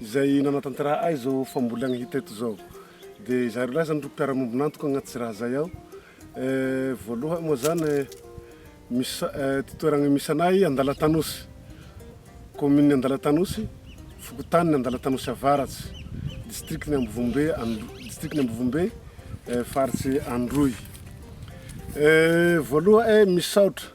izay nanatanteraha ahy izao fambolena hita eto izao dia izaho roalahy izany ro mpiara-miombon'antoka agnaty tsy raha izay ao voalohany moa izany misy ity toerana misy anay Andalatanosy kaominina Andalatanosy fokontany Andalatanosy avaratsy distrikan'i Ambovombe distrikan'i Ambovombe faritse Androy voalohany misaotra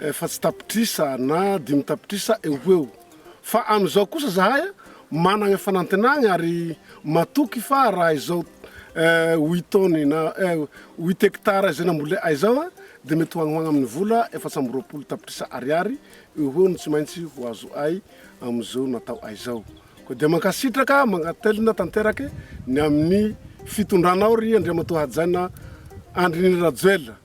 efatsy tapitrisa na dimy tapitrisa eo ho eo fa amin'izao kosa zahay managna fanantenagna ary matoky fa raha izao huit tonnes na huit hectares izay namboleay izao dia mety ho agny ho agny amin'ny vola efatsy amby roapolo tapitrisa ariary eo ho eo no tsy maintsy ho azoay amin'izao nataoay izao. Koa dia mankasitraka mankatelina tanterake ny amin'ny fitondranao ry Andriamatoa Hajaina Andry Rajoelina.